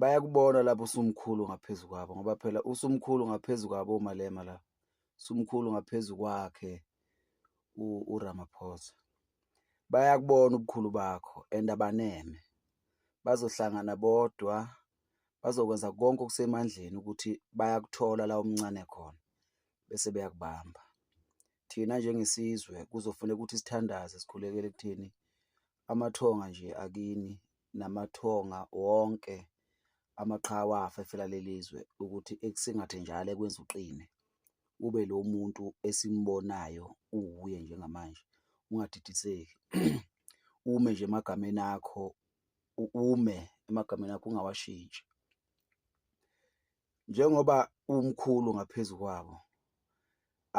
bayakubona lapho usumkhulu ngaphezu kwabo ngoba phela usumkhulu ngaphezu kwabo umalema la usumkhulu ngaphezu kwakhe uRamaphosa bayakubona ubukhulu bakho and abaneme bazohlangana bodwa bazokwenza konke okusemandleni ukuthi bayakuthola la omncane khona bese beyakubamba thina njengesizwe kuzofuneka ukuthi sithandaze sikhulekele kuthini amathonga nje akini namathonga wonke amaqhawe afa efela lelizwe ukuthi ekusingathe njalo ekwenza uqine ube lo muntu esimbonayo uwuye njengamanje ungadidiseki ume nje emagameni akho ume emagameni akho ungawashintshi njengoba umkhulu ngaphezu kwabo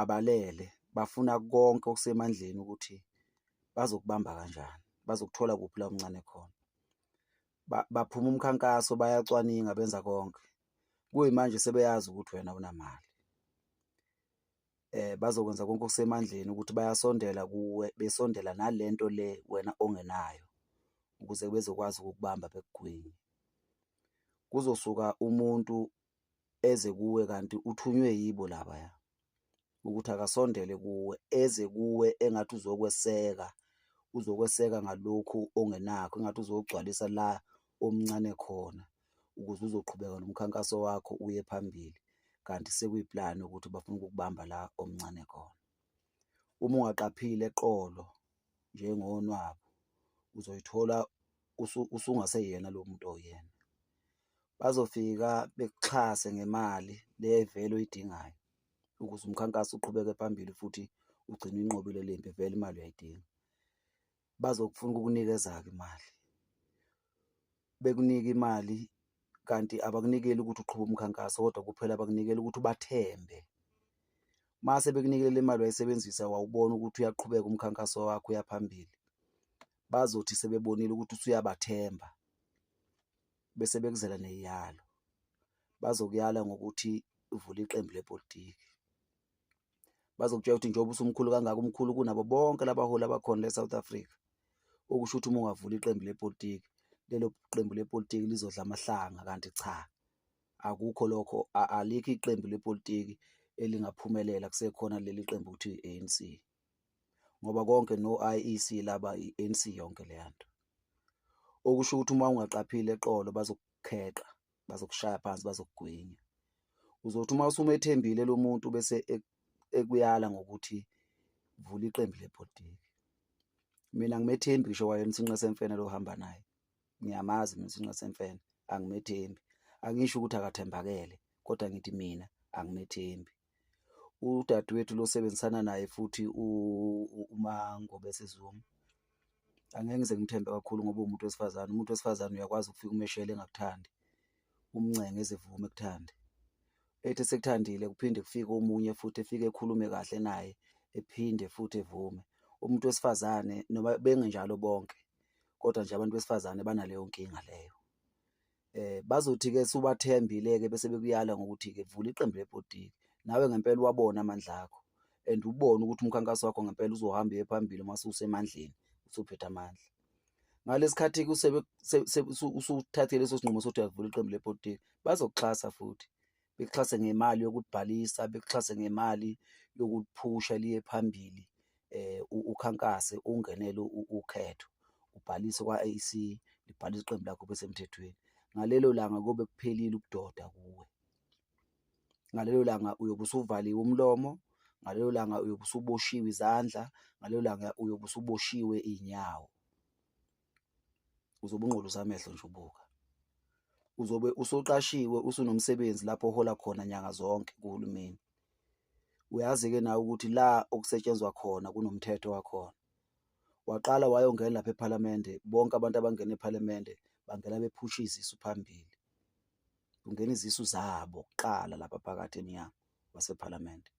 abalele bafuna konke okusemandleni ukuthi bazokubamba kanjani bazokuthola kuphi la omncane khona baphuma umkhankaso bayacwaninga benza konke kuyimanje sebeyazi ukuthi wena unamali eh bazokwenza konke okusemandleni ukuthi bayasondela kuwe besondela nalento le wena ongenayo ukuze bezokwazi ukukubamba bekugwinye kuzosuka umuntu eze kuwe kanti uthunywe yibo laba ya ukuthi akasondele kuwe eze kuwe engathi uzokweseka uzokweseka ngalokhu ongenakho engathi uzogcwalisa la omncane khona ukuze uzoqhubeka nomkhankaso wakho uye phambili kanti sekuyiplani ukuthi bafuna ukukubamba la omncane khona uma ungaqaphile eqolo njengonwabu uzoyithola usungaseyena lo muntu oyena bazofika bekuxhase ngemali le vele oyidingayo ukuze umkhankaso uqhubeke phambili futhi ugcine inqobile le mpi vele imali uyayidinga bazokufuna ukukunikeza-ke imali bekunike imali kanti abakunikeli ukuthi uqhuba umkhankaso kodwa kuphela abakunikela ukuthi ubathembe mase bekunikele le mali wayisebenzisa wawubona ukuthi uyaqhubeka umkhankaso wakho uyaphambili bazothi sebebonile ukuthi usuyabathemba bese bekuzela neyalo bazokuyala ngokuthi uvule iqembu lepolitiki bazokutshela ukuthi njengoba usumkhulu kangaka umkhulu kunabo bonke labaholi abakhona le-south africa okusho ukuthi uma ungavula iqembu lepolitiki lelo qembu lepolitiki lizodla amahlanga kanti cha akukho lokho alikho iqembu lepolitiki elingaphumelela kusekhona leli qembu ukuthi i-anc ngoba konke no-iec laba i-anc yonke leya nto okusho ukuthi uma ungaqaphile eqolo bazokukheqa bazokushaya phansi bazokugwinya uzothi uma usumethembile lo muntu bese ekuyala ngokuthi vula iqembu lebhodiki mina ngimethembi ngisho wayena usinqa semfene lo hamba naye ngiyamazi mina usinqa semfene angimethembi angisho ukuthi akathembakele kodwa ngithi mina angimethembi udadewethu losebenzisana naye futhi uMangobese Zuma angeke ngize ngimthembe kakhulu ngoba uwumuntu wesifazane, umuntu wesifazane uyakwazi ukufika umeshele engakuthandi, umncenge ezivume ekuthande. Ethi esekuthandile kuphinde kufike omunye futhi efike ekhulume kahle naye ephinde futhi evume. Umuntu wesifazane noma bengenjalo bonke kodwa nje abantu besifazane banaleyo nkinga leyo. eh bazothi-ke subathembile-ke bese bekuyala ngokuthi-ke vula iqembu lebhodiki nawe ngempela uwabona amandla akho and ubone ukuthi umkhankaso wakho ngempela uzohamba uye phambili uma ususemandleni usuphethe amandla ngalesikhathi-ke usuthathe leso sinqumo sokuthi uyavula iqembu lepolitiki bazokuxhasa futhi bekuxhase ngemali yokubhalisa bekuxhase ngemali yokuphusha liye phambili eh ukhankase ungenele ukhetho ubhalise kwa-ANC libhalisa iqembu lakho besemthethweni ngalelo langa kobe kuphelile ukudoda kuwe ngalelo langa uyobe usuvaliwe umlomo ngalelo langa uyobe usuboshiwe izandla ngalelo langa uyobe usuboshiwe iy'nyawo uzobe ungqolisa amehlo nje ubuka uzobe usoqashiwe usunomsebenzi lapho ohola khona nyanga zonke kuhulumeni uyazi-ke nawe ukuthi la okusetshenzwa khona kunomthetho wakhona waqala wayongena lapha ephalamende bonke abantu abangena ephalamende bangena bephusha izisu phambili kungena izisu zabo kuqala lapha phakathi emnyango wasephalamende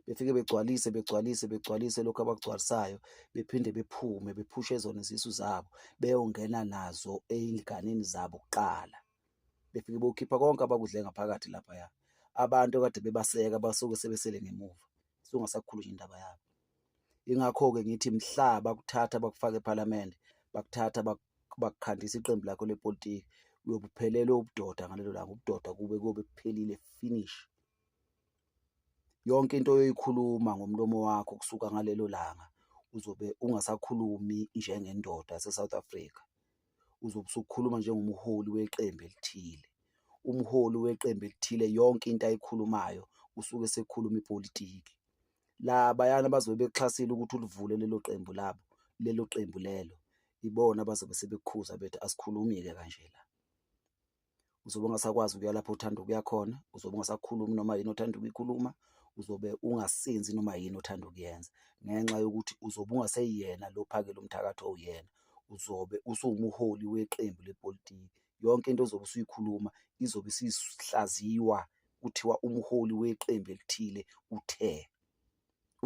befike begcwalise begcwalise begcwalise lokhu abakugcwalisayo bephinde bephume bephushe zona izisu zabo beyongena nazo eyinganeni zabo kuqala befike bokhipha konke abakudle ngaphakathi laphaya abantu kade bebaseka basuke sebesele ngemuva sungasakhulu nje indaba yabo ingakho-ke ngithi mhla bakuthatha bakufaka ephalamende bakuthatha bakukhandisa iqembu lakho lepolitiki uyobuphelelwe ubudoda ngalelo langa ubudoda kube kobe kuphelile finish yonke into oyoyikhuluma ngomlomo wakho kusuka ngalelo langa uzobe ungasakhulumi njengendoda yaseSouth Africa, uzobe usukhuluma njengomholi weqembu elithile. Umholi weqembu elithile yonke into ayikhulumayo usuke esekhuluma ipolitiki. Labayana bazobe bekuxhasile ukuthi ulivule lelo qembu labo, lelo qembu lelo, ibona abazobe sebekukhuza bethi asikhulumi-ke kanje la. uzobe ungasakwazi ukuya lapho uthanda ukuya khona uzobe ungasakhulumi noma yini othanda ukuyikhuluma uzobe ungasenzi noma yini othanda ukuyenza ngenxa yokuthi uzobe ungaseyena lo phakela umthakathi owuyena uzobe usuwumuholi weqembu lepolitiki yonke into ozobe usuyikhuluma izobe isihlaziwa kuthiwa umholi weqembu elithile uthe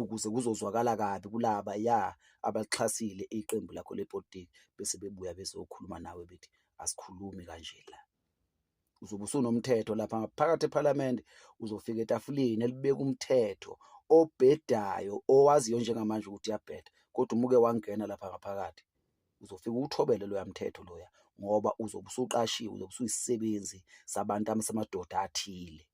ukuze kuzozwakala kabi kulaba ya abaxhasile iqembu lakho lepolitiki bese bebuya bezokhuluma nawe bethi asikhulumi kanje la uzobe usunomthetho lapha ngaphakathi ephalamende uzofika etafuleni elibeka umthetho obhedayo owaziyo njengamanje ukuthi uyabheda kodwa umuke wangena lapha ngaphakathi uzofika uthobele loya mthetho loya ngoba uzobe usuqashiwe uzobe usuyisebenzi sabantu samadoda athile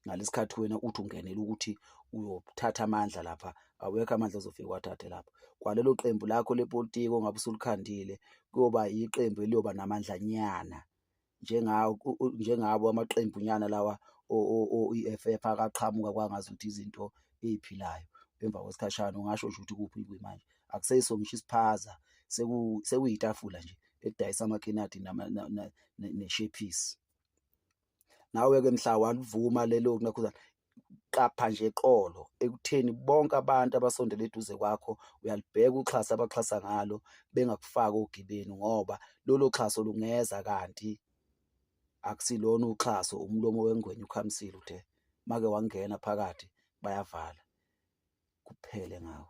ngalesikhathi wena uthi ungenela ukuthi uyothatha amandla lapha awekho amandla ozofika wathathe lapho kwalelo qembu lakho lepolitiki ongabe usulikhandile kuyoba yiqembu eliyoba namandlanyana njengawo njengabo amaqembu nyana lawa o-EFF akaqhamuka kwangazi ukuthi izinto eziphilayo emva kwesikhashana ungasho nje ukuthi kuphi kwi manje akuseyiso ngisho isiphaza sekuyitafula nje edayisa amakhenadi neshephisi nawe-ke mhla walivuma lelo nakhuzana qapha nje eqolo ekutheni bonke abantu abasondele eduze kwakho uyalibheka uxhasa abaxhasa ngalo bengakufaki ogibeni ngoba lolo xhaso lungeza kanti akusilona uxhaso umlomo wengwenya ukhamisile uthe make wangena phakathi bayavala kuphele ngawo